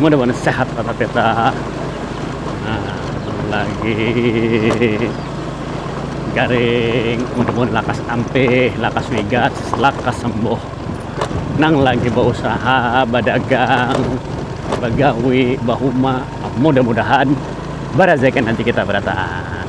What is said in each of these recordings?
Mudah-mudahan sehat kata peta. Nah, lagi garing, mudah-mudahan lakas ampih, lakas wigas, lakas sembuh. Nang lagi bausaha, badagang, bagawi, bahuma, mudah-mudahan barezeki nanti kita berataan.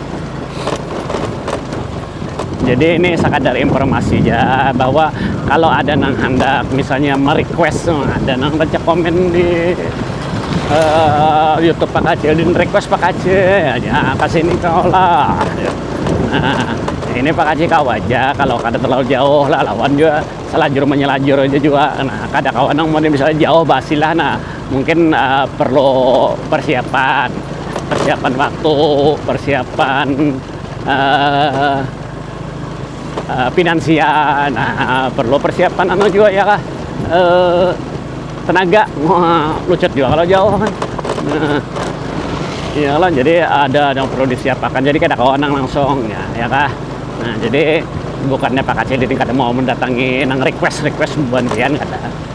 jadi ini sekadar informasi aja bahwa kalau ada nang hendak misalnya merequest ada nang baca komen di uh, YouTube Pak Kacil dan request Pak Kacil ya kesini kau lah nah ini Pak Kacil kau aja kalau kada terlalu jauh lah lawan juga selajur menyelajur aja juga nah kada kawan nang mau misalnya jauh basilah nah Mungkin uh, perlu persiapan, persiapan waktu, persiapan uh, uh, finansial, nah, perlu persiapan anu juga ya kah, uh, tenaga, uh, lucut juga kalau jauh kan. Uh, ya lah, jadi ada yang perlu disiapkan, jadi kada kawan nang langsung ya, ya kah. Nah, jadi bukannya Pak Kacil ini kada mau mendatangi nang request-request buantian kada.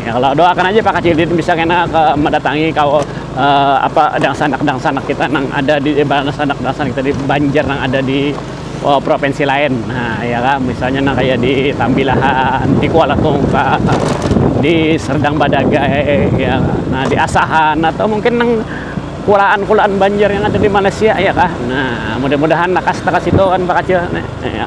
Ya, kalau doakan aja Pak Kacil Didin bisa kena ke mendatangi kau uh, apa dangsanak-dangsanak kita nang ada di eh, dangsanak-dangsanak kita di Banjar nang ada di uh, provinsi lain. Nah, ya kan misalnya nang kayak di Tambilahan, di Kuala Tungka, di Serdang Badagai, ya. Kan? Nah, di Asahan atau mungkin nang kulaan-kulaan Banjar yang ada di Malaysia ya kah nah mudah-mudahan nakas takas itu kan Pak Kacil nah, ya.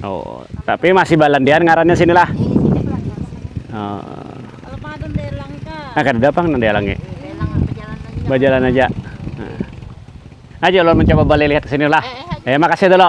Oh, tapi masih balandian ngarannya sinilah. Oh. Nah, kada dapang nang dialangi. Bajalan aja. Aja lo mencoba balik lihat ke sini lah. Eh, makasih dulu.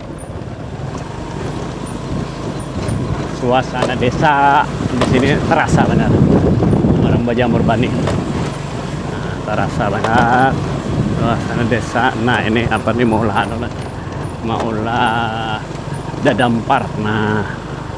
Suasana desa di sini terasa banar orang bajamur banih nah terasa banar suasana desa nah ini apa ni maulah anu lah maulah dadampar nah.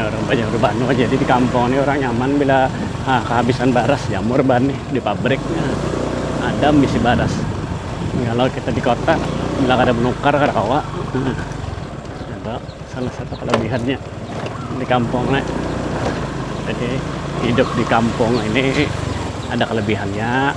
Orang banyak berbanu aja jadi di kampung nih orang nyaman bila ah, kehabisan baras jamur ban nih di pabrik nah, ada misi baras kalau kita di kota bila kada menukar kada kawa nah, ada salah satu kelebihannya di kampung nih jadi hidup di kampung ini ada kelebihannya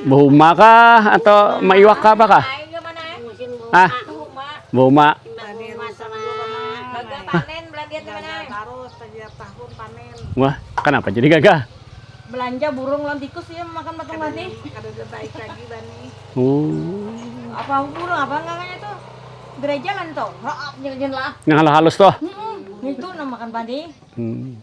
Bahuma kah atau maiwak kah apa kah? Ah, bahuma. Wah, kenapa jadi gagah? Belanja burung lawan tikus ya makan batang bani. Kada ada baik lagi bani. Oh. Apa burung apa namanya itu? Gereja kan tuh. Nang halus halus tuh. Hmm, itu nang makan bani. Hmm.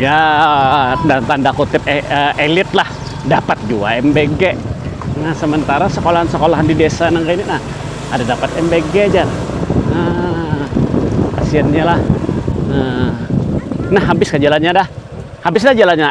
ya dan tanda kutip eh, eh, elit lah dapat juga MBG nah sementara sekolahan-sekolahan di desa nang kayak ini nah ada dapat MBG aja nah kasiannya lah nah, nah habis ke jalannya dah habis dah jalannya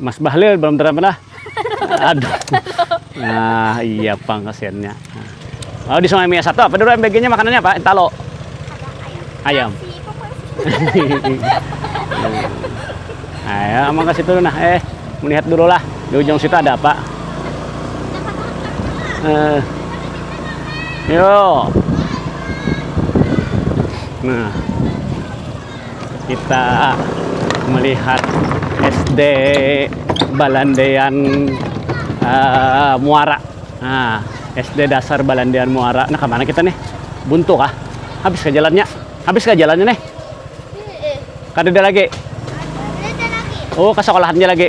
Mas Bahlil belum terang lah. Aduh. Nah, iya pang kasihannya. Oh, di Sungai Mia satu apa dulu MBG-nya makanannya apa? Entalo. Ayam. Ayo, amang kasih dulu nah. Eh, melihat dulu lah. Di ujung situ ada apa? Eh. Yo. Nah. kita melihat SD balandean muara nah SD dasar balandean muara nah kemana kita nih buntu kah habis ke jalannya habis ke jalannya nih kada ada lagi oh ke sekolahannya lagi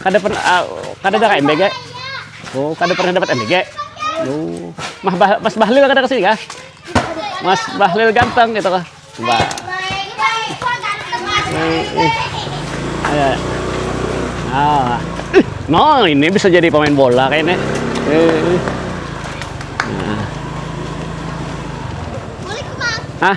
Kada pernah uh, kada ada MBG. Oh, kada pernah dapat MBG. Oh, Mas, bah, Mas Bahlil kada kesini kah? Mas Bahlil ganteng gitu kah? Wah. Eh, eh. Ayo. Ah. No, ini bisa jadi pemain bola kayaknya. Eh. Nah. Hah?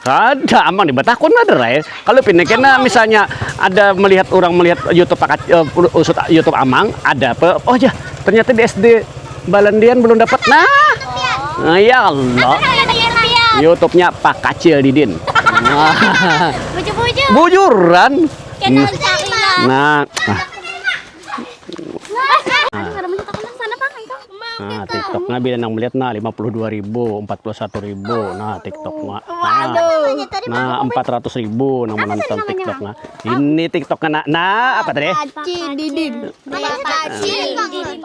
Kada, amang dibatakun banar ai. Kalau pina kena misalnya ada melihat orang melihat YouTube pakat uh, eh, usut YouTube amang, ada apa? Oh ya, ternyata di SD Balandian belum dapat. Nah, nah ya Allah. YouTube-nya Pak Kacil Didin. Bujuran. Nah, nah. Nah, TikTok nah bila nang melihat nah 52 ribu, 41 ribu. Nah, TikTok nah. Nah, 400 ribu nang menonton TikTok nah. Ini TikTok nah. Nah, apa tadi? Paci Didin. Paci Didin.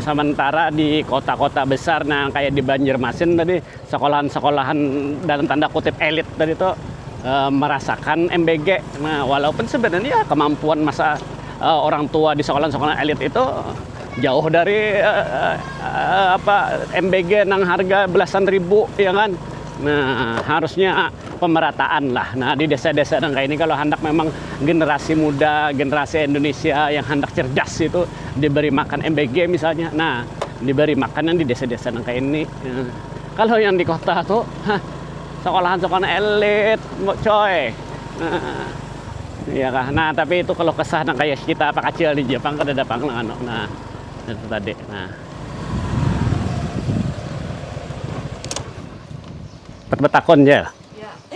Samantara di kota-kota besar nang kaya di Banjarmasin tadi sekolahan-sekolahan dalam tanda kutip elit tadi tu merasakan MBG nah walaupun sebenarnya kemampuan masa orang tua di sekolahan-sekolahan elit itu jauh dari apa MBG nang harga belasan ribu iya kan nah harusnya pemerataan lah nah di desa-desa nang kaya ini kalo handak memang generasi muda generasi Indonesia yang handak cerdas itu. diberi makan MBG misalnya. Nah, diberi makanan di desa-desa nang kayak ini. Nah, kalau yang di kota tuh, hah, sekolahan-sekolahan elit, coy. Nah, iya kah? Nah, tapi itu kalau kesah nang kayak kita apa kacil di Jepang kan ada pang nang anu. Nah, itu tadi. Nah. Betakon, Cel.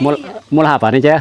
Mul, mul apa nih, Cel?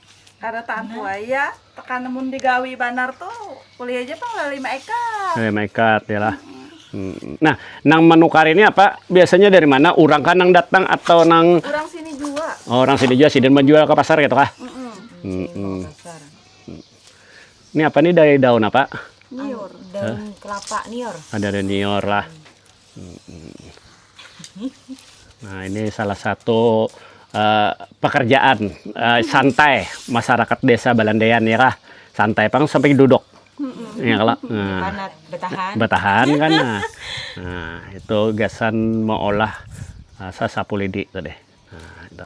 Kada tampuai ya, tekan mun digawi banar tu kuliah ja pang lah lima ekar. Lima ekar ya lah. Hmm. Nah, nang menukar ini apa? Biasanya dari mana? Orang kan nang datang atau nang? Orang sini juga. Oh, orang sini juga sih dan menjual ke pasar gitu kah? Mm -mm. Mm -mm. Ini apa nih dari daun apa? Nior. Daun kelapa nior. Ada ah, daun nior lah. nah ini salah satu pekerjaan santai masyarakat desa balandean ya kak santai pang sampai duduk ya kak betahan kan nah itu gasan meolah sasapu lidi tadi nah itu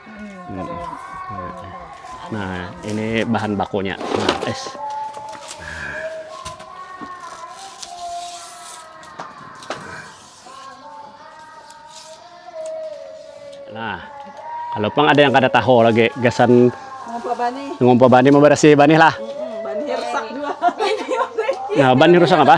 nah ini bahan bakunya nah, es nah kalau pang ada yang kada tahu lagi gasan ngumpa bani ngumpa bani membersih bani lah nah bani rusak apa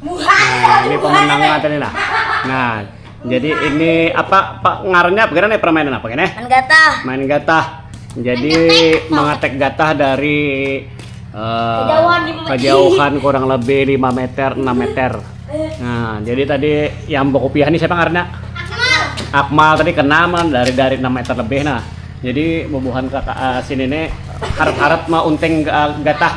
Nah, ini pemenangnya tadi nah. Nah, jadi ini apa pak ngarannya apa nih permainan apa ini? Main gatah. Main gatah. Jadi mengetek gatah dari uh, kejauhan, kejauhan kurang lebih 5 meter, 6 meter. Nah, jadi tadi yang bokopiah ini siapa ngarannya? Akmal. Akmal tadi kena dari dari 6 meter lebih nah. Jadi bubuhan kakak uh, sini nih harap-harap mau unteng uh, gatah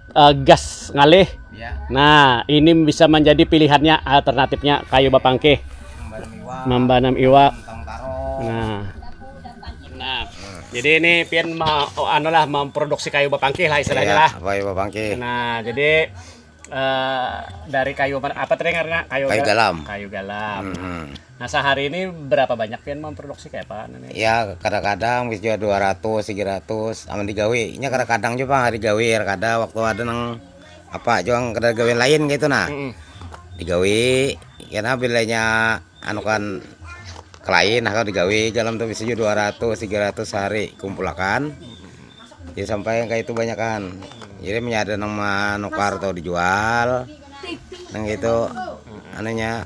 gas ngalih nah ini bisa menjadi pilihannya alternatifnya kayu bapangkih membanam iwak nah nah jadi ini pian ma oh, anu lah memproduksi kayu bapangkih lah istilahnya lah iya, kayu bapangkih nah jadi uh, dari kayu apa tadi karena kayu, kayu galam kayu galam mm -hmm. Nah sahari ini berapa banyak pian memproduksi kaya apa ini? Ya kadang-kadang bisa juga 200, 300 amun digawi. Nya kadang-kadang jua pang hari gawi kada kada waktu ada nang apa jua nang kada gawian lain kaya itu nah. Mm. Digawi kena bila nya anu kan kelain nah digawi dalam tu bisa juga 200, 300 sehari kumpulakan. Jadi sampai yang kayak itu banyak kan. Jadi menyada nang manukar atau dijual. Nang itu anunya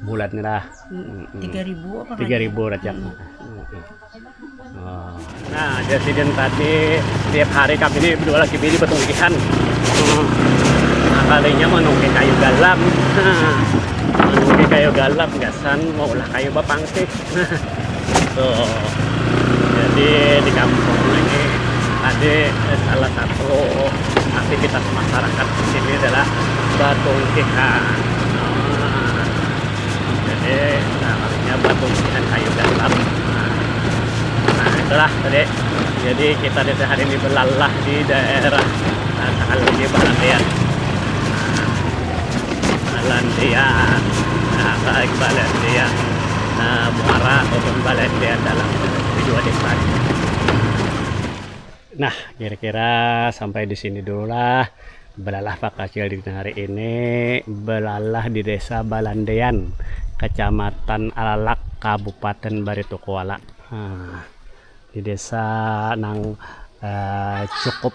bulat ni lah tiga ribu apa tiga ribu racak hmm. oh. nah jasidin tadi setiap hari kami ini berdua lagi bini bertungkihan hmm. nah, kalinya menungki kayu galam menungki kayu galam gasan mau ulah kayu bapangkik tuh jadi di kampung ini tadi salah satu aktivitas masyarakat di sini adalah batungkihan nah, jadi namanya batungkihan kayu dalam nah, nah itulah tadi jadi kita di hari ini belalah di daerah Takaligi Barat ya nah, balandian nah baik balandian uh muara ataupun balandian dalam dua desa ni. Nah kira kira sampai disini dulu lah belalah pakacil dina hari ini belalah di desa balandian kecamatan alalak kabupaten baritokuala um di desa nang um cukup.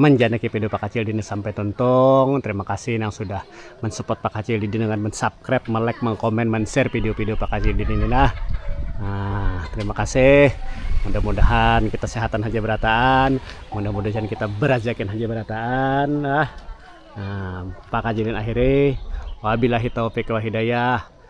Manjanaki video Pakacil Dina sampai tuntung. Terima kasih nang sudah mensupport Pakacil Dina dengan mensubscribe, melike, mengkomen, menshare video-video Pakacil Dina ini nah. Nah, terima kasih. Mudah-mudahan kita sehatan haja berataan, mudah-mudahan kita berajakin haja berataan. Nah, Pakacilin akhiri. Wabillahi taufiq wa hidayah.